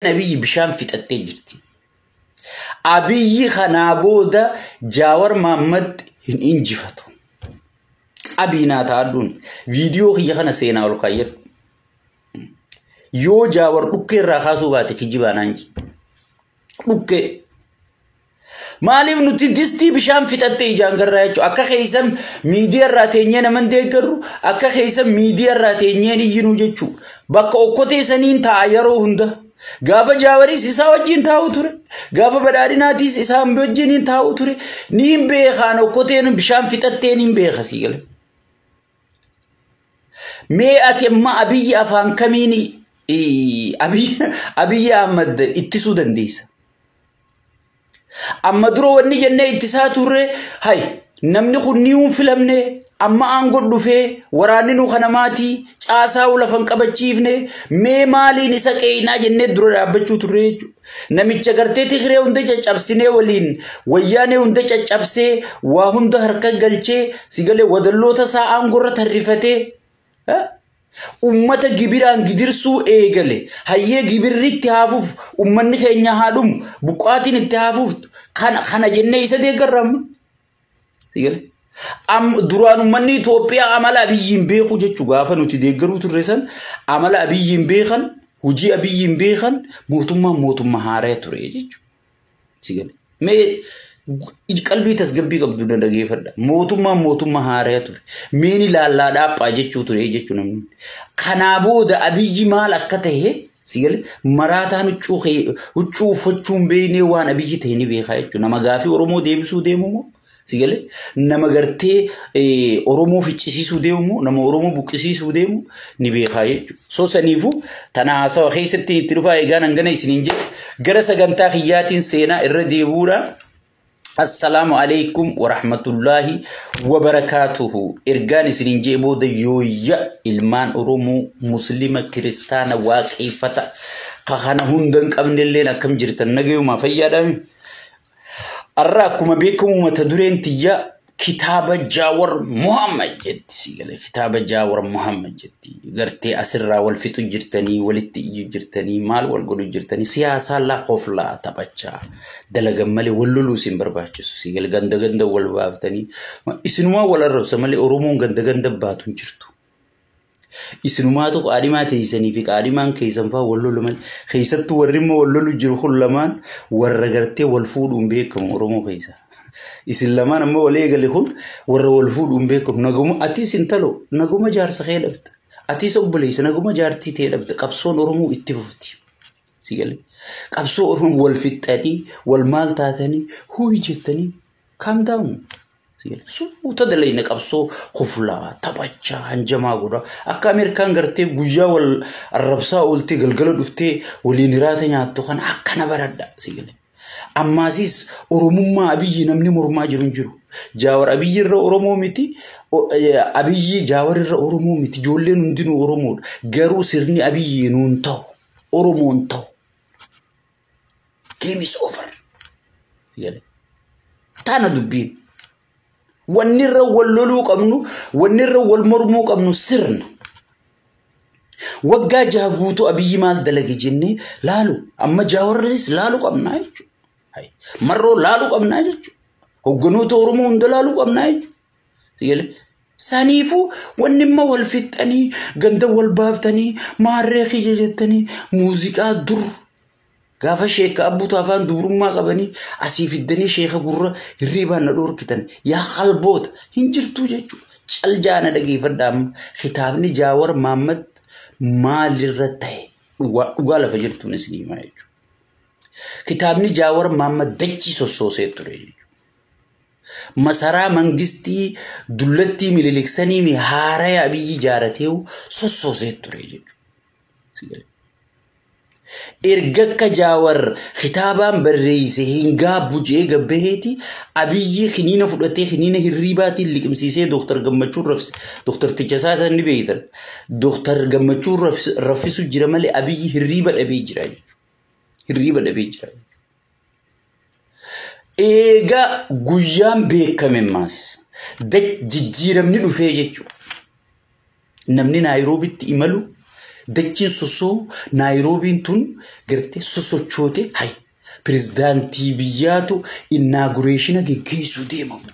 Abiyyi bishaan fixattee jirti. Abiyyi kanaa booda Jaawar Maammad hin injifatu. Qabii naa taa'adhuun viidiyoo kiyya kana seenaa ol kaayyadhu. Yoo Jaawar dhukkee irraa kaasuu baate kijibaa naan jedhi. Dhukkee. Maaliif nuti distii bishaan fixattee ijaan garraa jechuudha. Akka keessan miidiyaa irraa teenyee naman deeggarru akka keessan miidiyaa irraa teenyee iyyinuu jechuudha. Bakka okkotee saniin taa'a yeroo hunda. Gaafa jaawariis isaa wajjin taa'u ture. Gaafa badhaadhinaatiis isaa wajjin hin taa'u ture. Ni hin beekaan okkoteen bishaan fixattee ni hin beeka sii galee. Mee ati amma abiyyi afaan kamiin abiyyi Ahmad ittisuu dandeessa? Amma dura wanni jennee ittisaa turre hay namni kun ni hin filamne amma aangoo dhufee waraanni nu kana maatii caasaa lafan qabachiifne mee maaliin isa qeeynaa jennee dura dhaabbachuu turre jechuudha. Namicha gartee Tigree hunda caccabsinee waliin wayyaanee hunda caccabsee waa hunda harka galchee sigalee wadalloota isaa aangoo irra tarrifatee Ummata gibiraan gidirsuu eegale hayyee gibirri itti haafuuf ummanni keenya haa dhumu buqqaatiin itti haafuuf kana jennee isa deeggarra amma. Duraan ummanni Itoophiyaa amala abiyyiin beekuu jechuu gaafa nuti deeggaruu turre san amala abiyyiin beekan hojii abiyyiin beekan mootummaan mootummaa haaraya ture jechuudha. Si gale. Mee gu- qalbii tasgabbii qabdu na dhageeffadha. Mootummaan mootummaa haaraya ture. Meeni laallaa dhaaphaa jechuu ture jechuu namni. hundi. Kanaa booda abiyyi maal akka ta'e si gale maraataan huccuu kee- huccuu uffachuun beeknee waan abiyyi ta'e ni beekaa jechuudha. Nama gaafii Oromoo deebisuu deemu moo? Si galee nama gartee Oromoo ficcisiisuu deemu nama Oromoo buqqisiisuu deemu ni beekaa jechuudha. So saniifuu tana haasawa keessatti itti dhufaa eegaan hangana isiniin jedhe gara sagantaa kiyyaatiin seenaa irra deebuudhaan Assalaamu alaikum wa rahmatullaahi wa barakaatuhu. Ergaan isiniin jee booda yooyya ilmaan Oromoo Muslima Kiristaana Waaqeeffata ka kana hunda hin qabnelleen akkam jirtan nagayumaa fayyaadhaami. Har'a akkuma beekamu mata dureen tiyya kitaaba Jaawar Muhammad jetti si galee kitaaba Jaawar Muhammad jetti gartee asirraa wal fixu jirtanii walitti iyyu jirtanii maal wal godhu jirtanii siyaasaa laa koflaa taphachaa dalagan malee wal loluu isin barbaachisu si galee ganda ganda wal baaftanii ma- isinumaa wal arrabsa malee Oromoon ganda ganda baatu hin jirtu. Isinumaatu qaadhimaa teessanii fi qaadhimaan keessan fa'aa wal lolu malee keessattuu warri immoo wal lolu jiru kun lamaan warra gartee wal fuudhuun beekamu Oromoo keessa. Isin lamaan amma wal eegale kun warra wal fuudhuun beekamu naguma atis intalo naguma jaarsa kee dhabda. Atis obboleessa naguma jaartii tee dhabda qabsoon Oromoo itti fufti. Sigalee qabsoo Oromoo wal fixxanii wal maal taatanii huyi jettanii Calm down. Suuta dalayna qabsoo koflaa, taphachaa, hanjamaa godha. Akka Ameerikaan gartee guyyaa wal arrabsaa ooltee galgala dhuftee waliin hiraata nyaattu kana akkana baradha. Ammaasiis Oromummaa Abiyyi namni mormaa jiru hin jiru. Jaawar Abiyyi irra Oromoo miti. Abiyyi Jaawar irra Oromoo miti. Ijoolleen hundinuu Oromoodha. Garuu sirni Abiyyi nuun ta'u. Oromoon ta'u. Game is over. Jedhe. Tana dubbiin. Wanni irra wal loluu qabnu, wanni irra wal mormuu qabnu sirna. Waggaa jaha guutuu abiyyi maal dalage jennee laalu. Amma jaawarris laalu qabnaa jechuudha. Marroo laalu qabnaa jechuudha. Hogganoota Oromoo hunda laalu qabnaa jechuudha. Tiyele. Saniifuu wanni imma wal fixxanii ganda wal baaftanii maarree kiyya jettanii muuziqaa dur gaafa sheekka abbuutu afaan dubrummaa qabanii asii fiddanii sheeka gurra hirriibaan na dhoorkitan yaa qalboota hin jirtuu jechuudha. Cal jaana dhageeffadha amma kitaabni jaawar maammad maalirra ta'e dhugaa dhugaa lafa jirtuun isin himaa jechuudha. Kitaabni jaawar maammad dachii sossoosee ture jechuudha. Masaraa mangistii dullattii Minilik saniimi haaraya Abiyyi jaarateehu sossoosee ture jechuudha. Erga akka Jaawar kitaabaan barreeyse hin gaabbu je'ee gabbaheeti Abiyyi kiniina fudhatee kiniina hirriibaatiin liqimsiisee Dooktar Gammachuun rafise. Dooktar Tichasaa san ni beeytan. Dooktar Gammachuun raffisu jira malee Abiyyi hirriiba dhabee jira jechuudha. Hirriiba dhabee jira. Eegaa guyyaan beekame ammaas jijjiiramni dhufee jechuudha. Namni Naayiroobitti imalu dachiin sossoo Naayiroobiin tun gartee sosochoote hayi pirezidaantii biyyaatu innaagureeshina geggeessuu deemamu.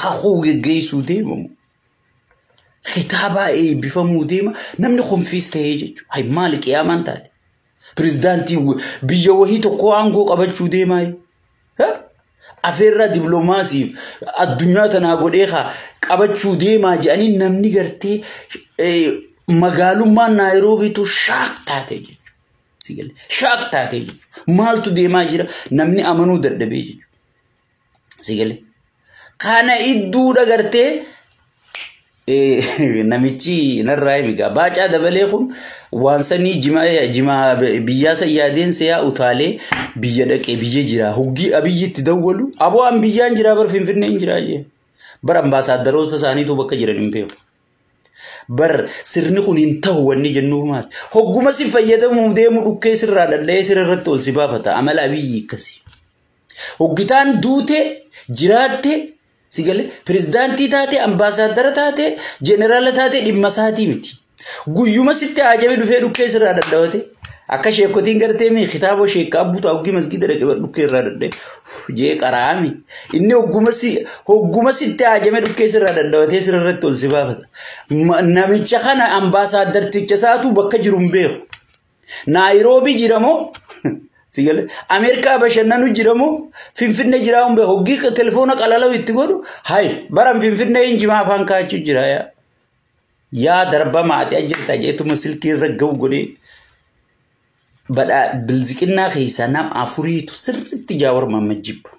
Kakuu geggeessuu deemamu. Kitaabaa eebbifamuu deema namni konfiis ta'ee jechuudha. Hayi maali qiyaamaan taate. Pirezidaantiin wa- biyya wahii tokkoo aangoo qabachuu deemaa afeerraa diploomaasii addunyaa tanaa godhee haa qabachuu deemaa jedhanii namni gartee eh, magaalummaan naayiroobiitu shaak taate jechuudha. Si galee? Shaak taate jechuudha. Maaltu deemaa jira namni amanuu dadhabee jechuudha. Si galee. Kana idduudha gartee namichi narraa himi gaa baacaa dabalee kun waan sanii jimaa biyyaa san yaadeen seeyaa utaalee biyya dhaqee biyya jira hoggii abiyyitti dawwalu aboo an biyyaan jira bar finfinneen jira jee bar ambaasaaddaroota isaaniitu bakka jiran hin beeku. Bar sirni kun hin ta'u wanni jennuuf maali hogguma si fayyadamuuf deemu dhukkee sirraa dhadha'ee sirra irratti ol si baafata amala abiyyi akkasi. Hoggitaan duutee jiraattee si galee pirezidaantii taatee ambaasaaddara taatee jeneraala taatee dhimma isaatii miti. Guyyuma sitti aajame dhufee dhukkee sirraa dadhabate akka sheekotiin gartee mii kitaaboo sheekka abbuu ta'a hoggii masgiida dhaqe bar dhukkee irraa dadhabe jee qaraa'ami. Inni hogguma si hogguma sitti aajame dhukkee sirraa dadhabatee sirratti ol si baafata. Ma- Namicha kana ambaasaaddarticha isaatu bakka jiru hin beeku. Naayiroobii jira moo? Sigalee Ameerikaa bashannanu jira moo? Finfinnee jira humbe hoggii telefoona qalalau itti godhu hay baran Finfinnee hin jimaa afaan kaachuu jira yaa. Yaa darbamaa ati ajjeertaa jeetuma silkii irra ga'u godhee badhaa bilziqinnaa keessaa nam afuriitu sirriitti jaawar mamma jibba.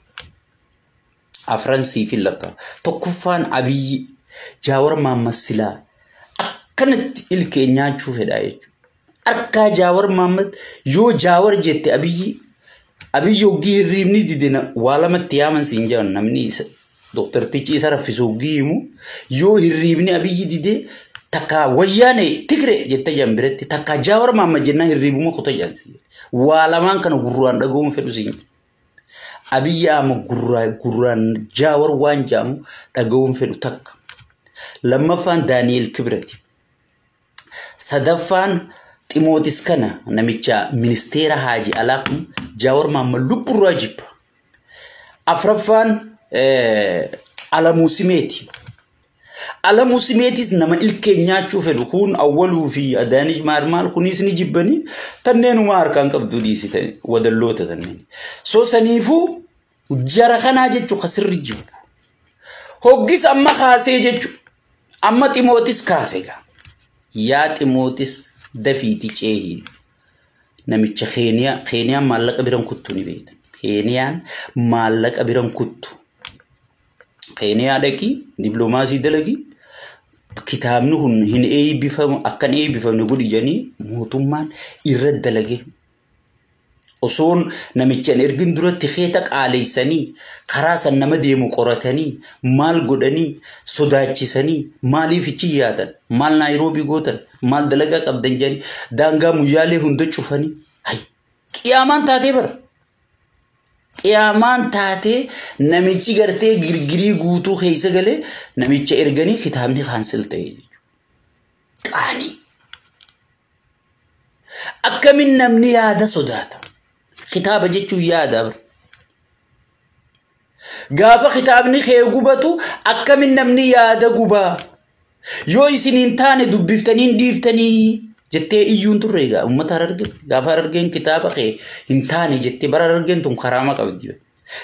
Afran sii fi lakka. Tokkoffaan abiyyi jaawar mamma silaa akkanatti ilkee nyaachuu fedhaa jechuudha. Harkaa Jaawar Maammad yoo Jaawar jette Abiyyi Abiyyi hoggii hirriibni didina waa lamatti yaaman siin jedhan namni isa dooktartichi isa raffisu hoggii himu yoo hirriibni Abiyyi dide takka wayyaane tigre jette jedhan biratti takka Jaawar Maammad jennaa hirriibuma kuta jedhan siin jedhan. waa lamaan kana gurraan dhaga'uun fedhu siin jedhan. Abiyyi ama gurraa gurraan Jaawar waan jedhamu dhaga'uun fedhu takka. Lammaffaan Daani'eel Kibirati. Sadaffaan Ximootis kana namicha ministeera haaji alaa kun Jaawar Maammal lubburraa jibba. Afraffaan Alamuu Simeeti. Alamuu Simeetis nama ilkeen nyaachuu fedhu kun Awwaluu fi Adaanij Maarmaal kunis ni jibbanii tanneenuma harkaan qabduu dhiisitanii wadalloota tanneen. So saniifuu Jara kanaa jechuun kan sirri jiru. Hoggis amma kaasee jechuun amma ximootis kaase gaa. Yaa ximootis dafiiti ceehiin. Namicha Keeniyaa Keeniyaan maallaqa biran kuttu ni beekta. Keeniyaan maallaqa biran kuttu. Keeniyaa dhaqii dippiloomaasii dalagii kitaabni kun hin eebbifamu akkan eebbifamne godhi jedhanii mootummaan irra dalagee Osoon namicha hin ergin duratti keeta qaaleessanii karaa san nama deemu qoratanii maal godhanii sodaachisanii maaliif ichi yaatan maal naayiroobii gootan maal dalagaa qabdan jedhanii daangaa muyyaalee hunda cufanii hay qiyaamaan taatee bara. Qiyaamaan taatee namichi gartee girgirii guutuu keessa galee namicha erganii kitaabni kaansel ta'e jechuudha. Qaanii. Akkamin namni yaada sodaata? Kitaaba jechuun yaada bar. Gaafa kitaabni kee gubatu akkamin namni yaada gubaa? Yoo isin hin taane dubbiftanii hin dhiiftanii jettee iyyuun turre egaa uummata hararge gaafa harargeen kitaaba kee hin taane jettee bara harargeen tun karaama qabdi.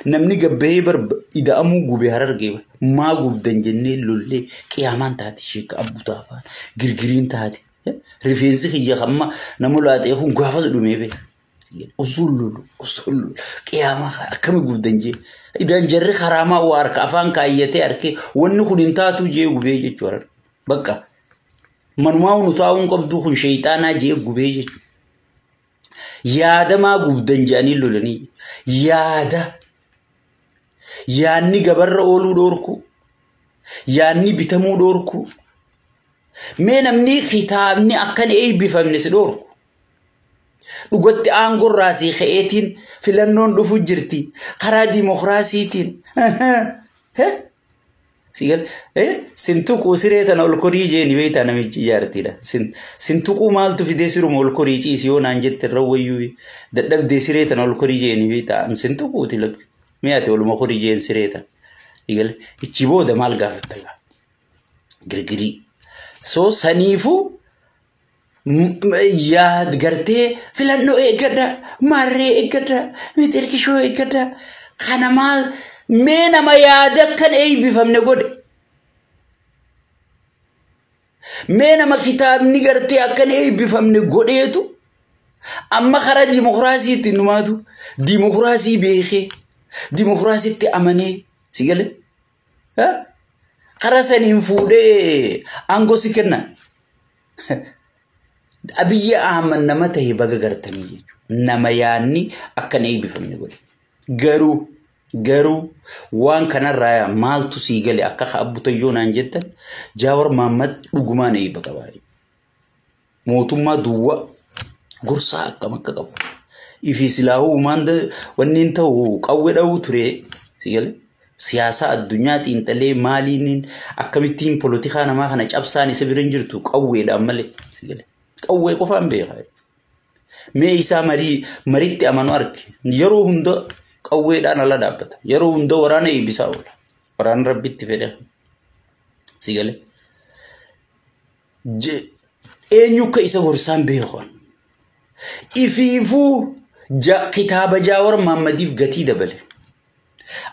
Namni gabbahee bar ida'amuu gube hararge bar. Maa gubdan jennee lollee qiyaamaan taate sheekka abbutaa afaan girgiriin taate. Rifeensi kiyya kamma nama laatee kun gaafas dhumee bee. Osoo lolu osoo lolu qiyaamaa akkami gubdan jee. Idaan jarri karaamaa waa harka afaan kaayyatee harkee wanni kun hin taatuu jee gubee jechuu harka. Bakka manumaa nu taa'uun qabduu kun sheeyxaanaa jee gubee jechuu. Yaada maa gubdan jeanii lolanii yaada. yaanni gabarra ooluu dhoorkuu yaanni bitamuu dhoorkuu mee namni kitaabni akkan eebbifamne si dhoorku dhugatti aangorraa si ka'eetiin filannoon dhufu jirti karaa dimokiraasiitiin. Sigal eh sin tuquu siree tana ol korii jeeni beektaa namichi ijaartiidha. Sin sin tuquu maaltu fidee siruma ol korii ciisi yoo naan jette irra wayyuu dadhabdee siree tana ol korii jeeni beektaa an sin tuquuti lakki. Mee ati oluma korii jeen siree tana. Sigal ichi booda maal gaafatta gaa? Girgirii. So saniifuu yaa gartee filannoo eeggadha maarree eeggadha mixirqishoo eeggadha kana maal mee nama yaada akkan eeybifamne godhe mee nama kitaabni gartee akkan eeybifamne godheetu amma karaa dimokiraasiitti numaatu dimokiraasii beekee dimokiraasiitti amanee si gale karaa saniin fuudhee aangoo si kenna. Abiyyi Ahmad nama ta'e baga gartanii jechuudha. Nama yaadni akka hin eebbifamne godhe. Garuu garuu waan kanarraa maaltu sii gale akka abbutayyoo naan jettan Jaawar Mahammad dhugumaan eebba qaba. Mootummaa duwwaa gorsaa akkam akka qabu. Ifi silaahuu maanda wanni hin ta'u qawwe dha'uu ture sii gale. Siyaasaa addunyaa xiinxalee maaliiniin akkamittiin polotikaa namaa kana cabsaan isa bira hin jirtu qawweedhaan malee. Qawwee qofaan beekaa jechuudha. Mee isaa marii maritti amanu arge yeroo hunda qawweedhaan ala dhaabbata. Yeroo hunda waraana eebbisaa oola. Waraana rabbitti fedhe. Sigalee. je- eenyu akka isa gorsaan beeku an. Ifiifuu ja- kitaaba Jaawar Maammadiif gatii dabale.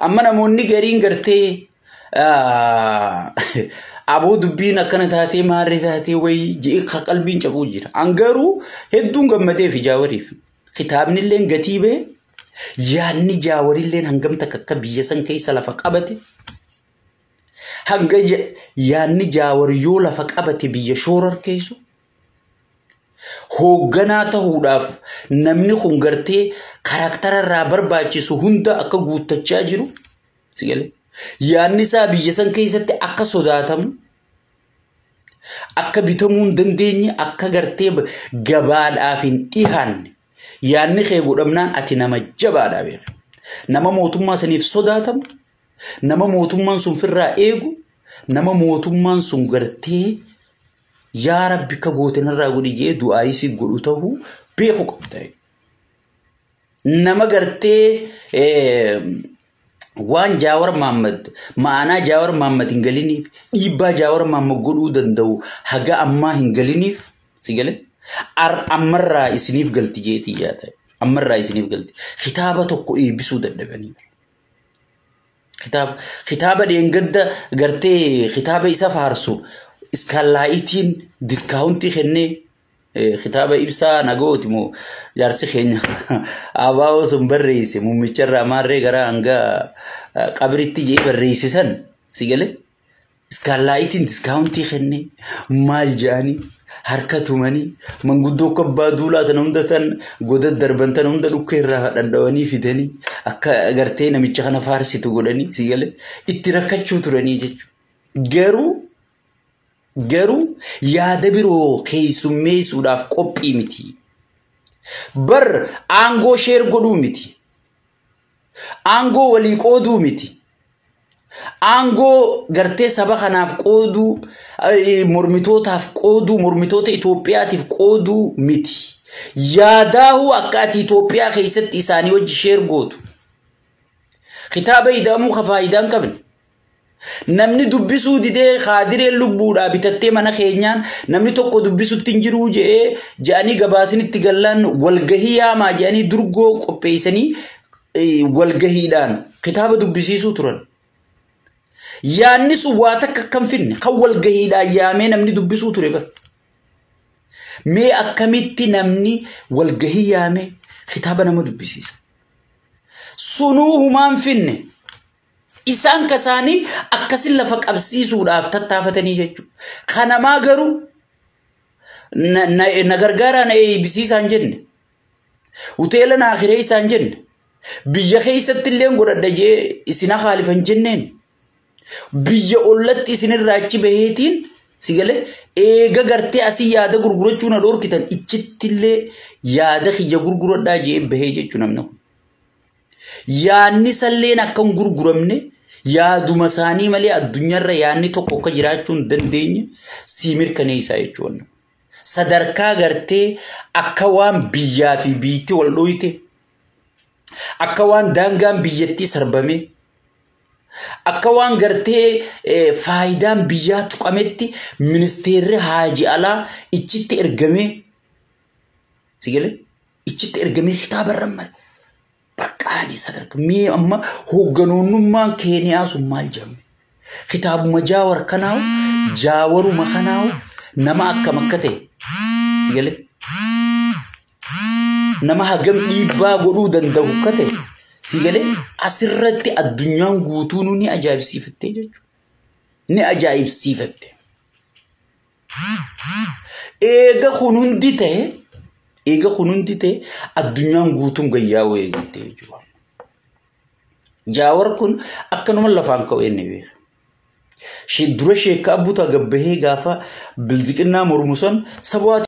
Amma namoonni gariin gartee ah, aboo dubbiin akkana taatee maarree taatee wayii je'ee ka qalbiin cabuu jira. An garuu hedduun gammadee fi Jaawariif. Kitaabni illeen gatii ba'e yaadni Jaawarilleen hangam takka akka biyya san keessa lafa qabate Hanga yaadni jaawar yoo lafa qabate biyya shoorarkeessu hoogganaa ta'uudhaaf namni kun gartee karaaktara irraa barbaachisu hunda akka guuttachaa jiru yaadni isaa biyya san keessatti akka sodaatamu akka bitamuu hin dandeenye akka gartee gabaadhaaf hin dhihaanne yaadni kee godhamnaan ati nama jabaadha beeku. Nama mootummaa saniif sodaatamu Nama mootummaan sun firraa eegu, nama mootummaan sun gartee yaa rabbi akka goote narraa godhi jee du'aayii si godhu ta'uu beeku qabda. Nama gartee waan Jaawar Maammad ma'anaa Jaawar Maammad hin galiniif dhiibbaa Jaawar Maammad godhuu danda'u haga ammaa hin galiniif si gale ammarraa isiniif galti jeetii yaa ta'e ammarraa isiniif galti kitaaba tokko eebbisuu dadhabanii. Kitaaba, kitaaba dheengadda gartee kitaaba isa faarsu iskaalaayitiin diskaawuntii kennee eh, kitaaba ibsaa nagooti moo jaarsi keenya abaaboo sun barreesse mummicharraa maarree gara hanga eh, qabritti jee barreesse san si galee. Iskaallaayitiin diskaawuntii kenne maal jedhanii harka tumanii manguddoo akka abbaa duulaa tana hunda tan goda darban tana hunda dhukkee irraa dhadhawanii fidanii akka gartee namicha kana faarsitu godhanii si galee itti rakkachuu turanii jechuudha. Garuu garuu yaada biroo keessummeessuudhaaf qophii miti. Bar aangoo sheer godhuu miti. Aangoo walii qooduu miti. Aangoo gartee saba kanaaf qooduu, mormitootaaf qooduu, mormitoota Itoophiyaatiif qooduu miti. Yaadaahuu akka ati Itoophiyaa keessatti isaanii wajji sheer gootu. Kitaaba ida'amuu ka faayidaa hin qabne. Namni dubbisuu didee kaadireen lubbuudhaa bitattee mana keenyaan namni tokko dubbisutti hin jiruu je'ee je'anii gabaasinitti gallaan walgahii yaamaa je'anii durgoo qopheessanii walgahiidhaan kitaaba dubbisiisuu turan. Yaanni sun waa takka kan finne kan walgahiidhaan yaamee namni dubbisuu ture bara. Mee akkamitti namni walgahii yaamee kitaaba nama dubbisiisa. Sunuu humaan finne. Isaan ka isaanii akkasin lafa qabsiisuudhaaf tattaafatanii jechuudha. Ka namaa garuu na, na, na gargaaraa na eeybisiisaa hin jenne. Hoteela naa kireessaa hin jenne. Biyya keessatti illee godhadha jee isin haalifa hin jenneen. Biyya ollatti isinirraa achi baheetiin si galee eega gartee asii yaada gurgurachuu na dhorkitan ichittillee yaada kiyya gurguradhaa jee bahee jechuu namni kun. Yaadni salleen akka hin gurguramne yaaduma isaanii malee addunyaarra yaadni tokko akka jiraachuu hin dandeenye sii mirkaneessaa jechuudha. Sadarkaa gartee akka waan biyyaa fi biyyatti wal dhooyte akka waan daangaan biyyattii sarbame akka waan gartee faayidaan biyyaa tuqametti ministeerri haaji alaa ichitti ergamee si galee? Ichitti ergamee kitaaba irra male. Baqqaanii sadarka. Mee amma hoogganoonnummaan Keeniyaa sun maal jedhamu? Kitaabuma jaawar kanaawu jaawaruma kanaawu nama akkam akka ta'e si galee nama hagam dhiibbaa godhuu danda'u akka ta'e si galee asirratti addunyaan guutuunuu ni ajaa'ibsiifattee jechuudha. Ni ajaa'ibsiifatte. Eega kun hundi ta'e eega kun hundi ta'e addunyaan guutuun gayyaa'uu eegalte jechuudha. Jaawar kun akkanuma lafaan ka'u inni beeka. Dura sheekka abbuutaa gabbahee gaafa bilziqinnaa mormu san sabu'aa